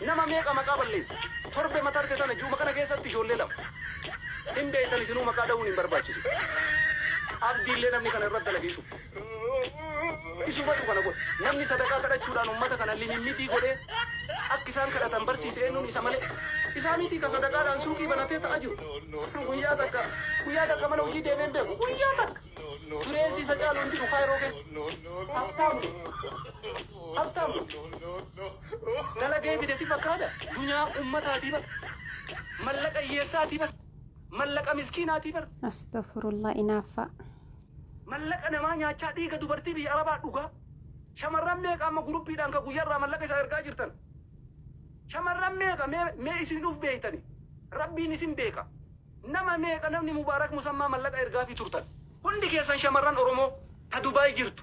Nama meeqa maqaa balleesse? Torbe ma tarde tana ji'uma kana keessatti ijoollee lama. Hin beektan isinuu maqaa dhahuun hin barbaachisu. Abdii illee namni kana irratti dalage isuma. Isumatu kana godhe. Namni sadaqaa kadhachuudhaan ummata kana limimmitii godhee akka isaan kadhatan barsiise eennuun isa malee. Isaa mitii ka sadaqaadhaan suuqii banatee ta'a jiru. Guyyaa takka guyyaa takka mana hojii deemee hin beeku. Guyyaa takka. Dureessi isa caalu hin jiru Kaayiroo keessa. Habtaamuma. Habtaamuma. Dalagee fide si fakkaata? Dunyaa ummataatii bar. Mallaqa hiyyeessaatii bar. Mallaqa miskiinaatii bar. Astofurullah inaaffaa. Mallaqa namaa nyaachaa dhiiga dubartii biyya arabaa dhugaa. Shamarran meeqa amma guruppiidhaan ka guyyarraa mallaqa isaa ergaa jirtan? Shamarran meeqa mee mee isin uf beektani? Rabbiin isin beeka. Nama meeqa namni Mubaarak Musammaa mallaqa ergaafii turtan? Hundi keessan shamarran Oromoo ta Dubai jirtu.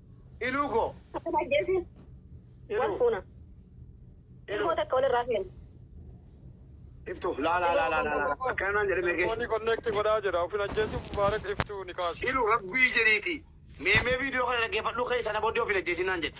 Iluu koo. Kan ajjeese wal Iluu. fuuna. Iluu. Ilmoo takka walirraa feena. Iftuu. Laa laa laa laa laa laa. Akkana naan jedhe meeqee. Telefoonii konneekti godhaa jira. Ofin ajjeesuuf Mubaarak iftuu ni kaasa. Iluu rabbii jedhiiti. Meemee viidiyoo kana dhaggeeffadhuu ka'ii sana booddee of hin ajjeesin naan jedhe.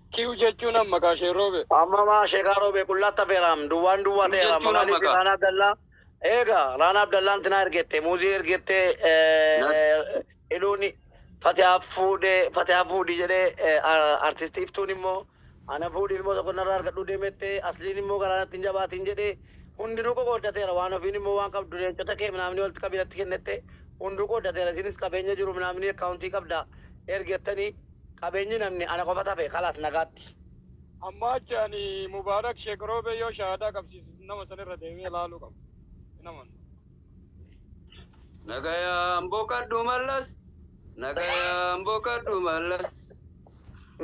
Q jechuun amma kaa shee roobe. Amma maa sheekaa roobee qullaa tafeeraam duwwaan duwwaa Q ta'eeraam jechuun amma maaliif kaa. Raanaa Abdallaa eega Raanaa Abdallaan tinaa ergette muuzii ergette eh, iluun fatiyaa fuudhe fatiyaa fuudhi jedhee eh, ar- artisti iftuun immoo ana fuudhi ilmoo tokko narraa argadhuu deemette asliin immoo garaa natti hin jabaatiin jedhee hundinuu qoqqooddateera waan ofiin immoo waan qabdu leencota kee minaamni walitti qabii natti kennette hunduu qooddateera isinis qabeenya jiru minaamni akkaawuntii qabda ergettanii Qabeenyi namni ana qofat hafe kalaas nagaatti. Amma achi ani Mubarak Sheikh Roobee yoo shahaadaa qabsiise nama san irra deemee laaluu qaba. Hin amanu. Nagayaan boqadhu mallas Nagayaan boqadhu mallas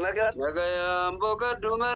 Nagaan. Nagayaan boqadhu mallas.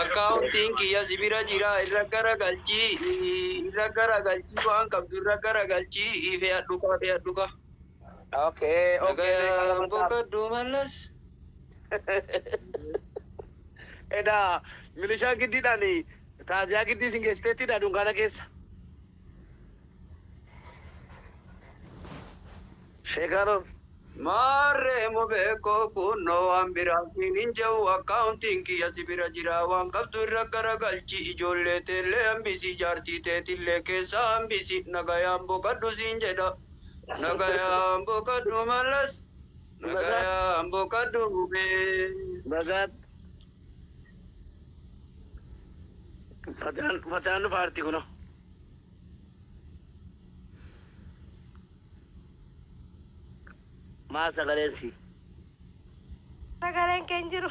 Akkaawuntiin kiyya si bira jira irra gara galchii irra gara galchii waan qabdu irra gara galchii fe'adhu kaa fe'adhu kaa. Okay, okay. Nagaan boqadhu mallas. Eda milishaa giddiidhaan taaziyaa giddii isin geessiteettidha dunkaana keessa. Sheekaanoo. Maarree immoo beekoo kunnoo waan biraa siin hin jehu akkaawuntiin kiyya si bira jira waan qabdu irra garagalchi ijoollee teellee hambisi jaartii teetillee keessaa hambisi nagayaan boqadhu siin jedha nagayaan boqadhu mallas nagayaan boqadhu mubee. Bagaan fataan fataan dhufa arti kuno. Maal sagaleen si? Sagaleen kee hin jiru.